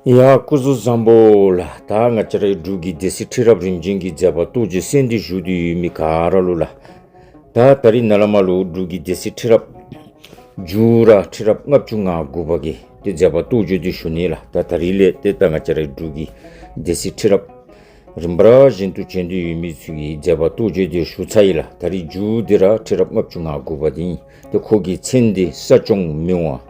ཡ། སྐུ་གཟུགས་བཟང་པོ། ལ་དྭགས་ང་ཅཱ་ར་ཡིག་དྲུག་གི་སྡེ་སྲིད་ཁྲི་རབས་རིམ་བྱོན་གྱིས་མཛད་པ་ཏུ་ཇི་སྲས་འདི་བཞུགས་དུས་ཡུལ་མི་ག་ར་ལུ། ལ་དྭགས་ད་རི་ན་ལ་མ་ལུག་དྲུག་གི་སྡེ་སྲིད་ཁྲི་རབས། ཇུ་ར་ཁྲི་རབས་ལྔ་བཅུ་ང་དགུ་བ་གིས་ཏེ་མཛད་པ་ཏུ་ཇོ་དུས་བཞུགས་ནས་ལ་དྭགས་ད་རི་ལས་ཏེ་ད་ང་ཅཱ་ར་ཡིག་དྲུག་གི་སྡེ་སྲིད་ཁྲི་རབས། རིམ་པ་ར་བཞིན་ཏུ་བྱོན་དུས་ཡུལ་མི་ཚུལ་གྱིས་མཛད་པ་ཏུ་ཇོ་དེར་བཞུགས་ཚ་ཡི་ལ་དྭགས་རི་ཇུ་དེ་ར་ཁྲི་རབས་ལྔ་བཅུ་ང་དགུ་བ་དེ་ཡིན་ཏེ་འཁོར་གྱི་མཚན་འདི་ས་སྐྱོང་མི་འོང།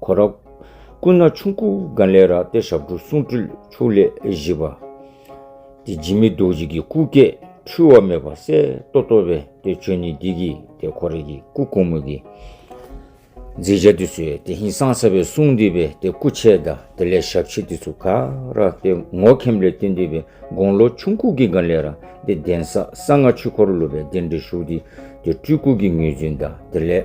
གོ་རབ། སྐུ་ན་ཆུང་སྐུ་དགའ་ལས་ར་ཏི་ཞབས་བྲོ་གསུང་སྤྲུལ་ཕྱུགས་ལས་བཞི་པ། དེ་སྦྱིན་མེད་རྡོ་རྗེ་གི་སྐུ་སྐད་འཁྲུལ་བ་མེད་པ་གསལ་ཏོ་ཏོ་བས་དེ་ཆོས་ཉིད་བདེ་གི་དེ་གོ་རེ་གི་སྐུ་གུང་མོ་གི། མཛེས་བྱ་དེ་ཚོས་དེ་ཧིན་སང་ས་བའི་གསུང་འདི་བས་དེ་སྐུ་ཆས་ད་དེ་ལས་ཞབས་ཕྱི་དེ་ཚོ་ག་ར་ཏི་ངོ་ཁེམ་ལས་ཏི་འདི་བས་དགོང་ལོ་ཆུང་སྐུ་གི་དགའ་ལས་ར་ཏི་གདན་ས་ས་ལྔ་ཆུ་འཁོར་ལོ་བས་དེ་འདྲི་ཞུགས་དེ་དེ་སྤྲུལ་སྐུ་གི་ངོས་འཛིན་ད་དེ་ལས།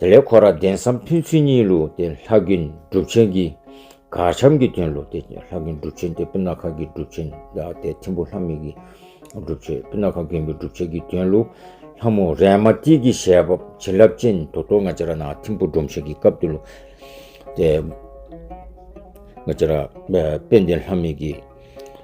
དེ་ལས་ཁོ་རང་གདན་སའམ་ཕུན་ཚུན་གཉིས་ལུགས་ཏེ་ལྷ་ཀྱི་སྒྲུབ་ཆེན་གྱི། གར་འཆམ་གྱི་དོན་ལུགས་ཏེ་ལྷ་ཀྱི་སྒྲུབ་ཆེན་ཏེ་པི་ན་ཁ་ཀྱི་སྒྲུབ་ཆེན་ཏེ་ཐིམ་པོ་ལྷ་མིག་གི་སྒྲུབ་ཆེན་པི་ན་ཁ་མཁན་པོའི་སྒྲུབ་ཆེན་གྱི་དོན་ལུགས། ལྷ་མོ་རས་མ་ཏི་ཀྱི་ཞལ་འབབ་བྱིན་རླབས་ཅན་དུ་ཏོ་ང་ཅ་ར་ནང་ཐིམ་པོ་སྒྲོམ་ཆེན་གྱི་སྐབས་དུ་ལུགས། ཏེ། ང་ཅ་ར། དཔལ་ལྡན་ལྷ་མིག་གི།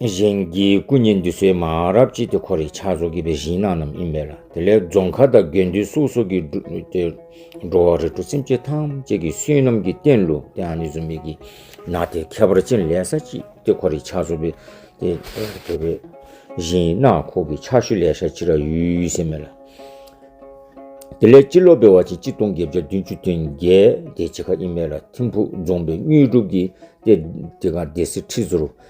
གཞན་གྱི་སྐུ་བརྙན་འདི་ཚོའི་མ་རབས་ཅི་སྟེ་ཁོ་རེ་ཕྱག་བཟོ་གི་པའི་གཞིན་ནང་རྣམས་ཡིན་པས་ལ་དེ་ལས་རྫོང་ཁ་དང་དགེ་འདུན་སུག་སོགས་ཀྱི་འགྲོ་བ་རེ་གྲོ་སེམས་ཅན་ཐམས་ཅད་ཀྱི་བསོད་ནམས་ཀྱི་རྟེན་ལོ་དེ་ཨ་ནེ་ཟུམ་མེད་ཀྱི་ན་དེ་ཁྱད་པར་ཅན་ལས་ས་ཅི་སྟེ་ཁོ་རེ་ཕྱག་བཟོ་གི་པའི་གཞིན་ནང་ཁོག་གི་ཕྱག་ཤུལ་ལས་ཤ་ཅི་ར་ཡུལ་ཟེར་མེད་ལ། དེ་ལས་སྤྱི་ལོ་པའི་བ་ཆེན་སྤྱི་སྟོང་བརྒྱད་བརྒྱ་བདུན་ཅུ་དོན་བརྒྱད་དེ་ཅི་ཁ་ཡིན་མེད་ལ་ཐིམ་ཕུག་རྫོང་པའི་དངོས་གྲུབ་ཀྱི་སྟེ་དེ་ག་སྡེ་སྲིད་ཁྲི་ཟུར།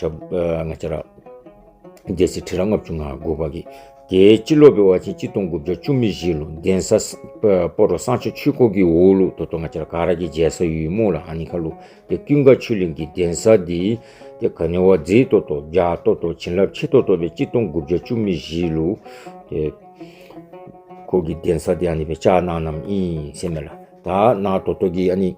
ལྔ་ཅར། རྒྱལ་སྲིད་ཁྲི་རལ་ལྔ་བཅུ་ང་དགུ་པ། རྒྱལ་སྤྱི་སློབ་པའི་བར་ཆད་སྤྱི་སྟོང་དགུ་བརྒྱ་བཅུ་མི་བཞི་ལུ་ལྡན་ས། སྤོ་རོ་སང་ཆོས་ཆུས་ཁོག་གིས་འུག་ལུག་དོ་དོ་ང་ཅར་ག་ར་གི་རྗེ་ས་ཡུལ་མུག་ལ་ཧ་ནི་ཁ་ལུ་ཏེ་ཀུན་དགའ་ཆོས་གླིང་གི་ལྡན་ས་དི། ཏེ་ག་ནི་བ་རྫི་དོ་དོ་རྒྱ་དོ་དོ་བྱིན་རླབས་ཆེ་དོ་དོ་བའི་སྤྱི་སྟོང་དགུ་བརྒྱ་བཅུ་མི་བཞི་ལུ། ཏེ། ཁོག་གི་ལྡན་ས་དི་ཨ་ནི་བའི་ལྕགས་ནག་རྣམས་ཨིན་སེ་མེ་ལ་ད་ནག་དོ་དོ་གི་ཨ་ནི།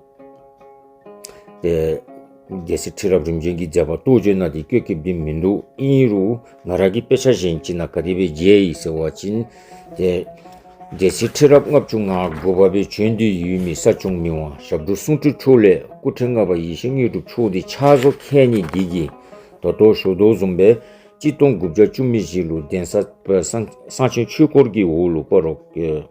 རྒྱལ་སྲིད་ཁྲི་རབས་རིམ་བྱོན་གྱི་མཛད་པ་ལྟོ་འཇོ་ན་དེ་སྐྱོ་ཁེབས་དེ་མི་འདུག་ཨིན་ཡིག་རུ་ང་ར་གི་དཔེ་ཆ་གཞན་གཅིག་ན་ག་དེ་བའི་རྒྱའི་ཡིག་ཟེར་བ་ཅིན། རྒྱལ་སྲིད་ཁྲི་རབས་ལྔ་བཅུ་ང་དགུ་བ་པའི་བྱོན་དུས་ཡུལ་མི་ས་ཆུང་མི་དབང་ཞབས་དྲུང་གསུང་ཁྲི་འཁྲུགས་ལས་སྐུ་ཕྲེང་ལྔ་པ་ཡེ་ཤེས་དངོས་གྲུབ་མཆོག་འདི་ཕྱག་བཟོ་མཁས་ཉིད་བགྱིད་ཀྱིས་མདོ་སྟོད་ཞོ་རྡོ་རྫོང་པའི་སྤྱི་སྟོང་དགུ་བརྒྱ་བཅུ་མི་བཞི་ལུ་གདན་ས་སངས་ཆེན་ཆོས་འཁོར་གྱི་འོག་ལུ་པ་རོག།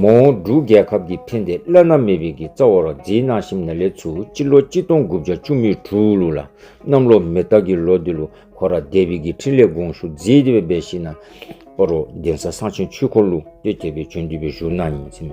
མོ་འབྲུག་རྒྱལ་ཁབ་ཀྱིས་ཕན་བདེ་བླ་ན་མེད་པའི་གི་རྩ་བ་རག་འཛིན་གནང་བཞིན་ན་ལེ་ཚུ་སྤྱི་ལོ་གཅིག་སྟོང་དགུ་བརྒྱ་བཅུ་མི་དྲུག་ལོ་ལ་གནམ་ལོ་མེ་སྟག་གི་ལོ་དེ་ལོ་ཁོ་ར་སྡེ་བའི་གི་འཕྲིན་ལས་དགོངས་ཞུ་མཛད་དེ་བའི་སྦས་ཤིང་ན་པ་རོ་གདན་ས་གསང་ཆེན་ཆོས་འཁོར་ལུགས་སྟོད་རྒྱལ་པའི་བྱོན་དུས་པའི་བཞུགས་སྣང་ཡིན།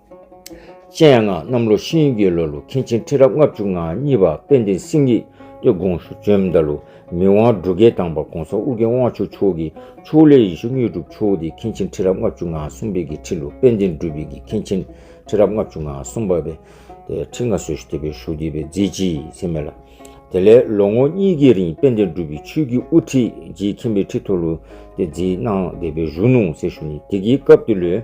ཅན་ཡང་ན་གནམ་ལོ་ཤིང་ཡུལ་གྱི་ལོ་ལོ་མཁན་ཆེན་ཁྲི་རབས་ལྔ་བཅུ་ང་གཉིས་པ་དཔལ་ལྡན་སེང་ཡིག་ཏུ་དགོངས་སུ་བཅོལ་མདའ་ལུ་མི་དབང་སྦྲུལ་དགའི་དང་བ་གོང་ས་དབུ་རྒྱན་དབང་ཕྱུག་མཆོག་གི་ཕྱོགས་ལས་ཡེ་ཤུ་དངོས་གྲུབ་མཆོག་སྟེ་མཁན་ཆེན་ཁྲི་རབས་ལྔ་བཅུ་ང་གསུམ་པའི་གི་ཁྲི་ལོ་དཔལ་ལྡན་སྦྲུལ་བིག་གི་མཁན་ཆེན་ཁྲི་རབས་ལྔ་བཅུ་ང་གསུམ་པ་བའི་ཁྲི་ལྔ་སོས་ཤུ་དེ་པའི་ཤུ་དེ་པའི་རྫས་སྤྱི་ཡི་ཚེ་མེ་ལ། དེ་ལས་ལོ་ངོ་གཉིས་ཀྱི་རིང་དཔལ་ལྡན་སྦྲུལ་བིག་ཆོས་ཀྱི་དབུ་ཁྲིད་ཀྱིས་མཁྱེན་པའི་ཁྲི་ཐོ་ལུ་དེ་རྫིས་གནང་བདེ་པའི་གཞུ་ནུང་ཟེར་ཤུ་ནི་དེ་གའི་སྐབས་དུ་ལོའི།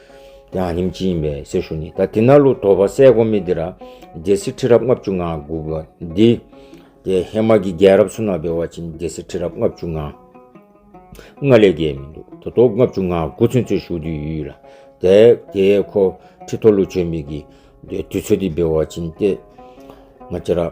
ཡང་ཉིན་གཅིག་ཡིན་པས་གསེར་ཞུ་ནི་ད་དེ་ན་ལུ་དོ་བ་སའི་གོ་མི་དེ་ར་རྒྱལ་སྲིད་ཁྲི་རབས་ལྔ་བཅུ་ང་དགུ་བ་འདི། དེ་ཧེ་མ་ཀི་རྒྱལ་རབས་སུ་ན་བེ་བ་ཅིན་རྒྱལ་སྲིད་ཁྲི་རབས་ལྔ་བཅུ་ང་ལྔ་ལས་རྒྱལ་མི་འདུག་དོ་དོ་ལྔ་བཅུ་ང་དགུ་ཚུན་ཚོད་ཞུ་དུས་ཡུལ་ལ་དེ་དེ་ཁོ་ཁྲི་ཐོ་ལུ་ཆོས་མི་ཀི་དེ་དུས་ཚོད་དེ་བེ་བ་ཅིན་ཏེ་ང་ཅི་ར།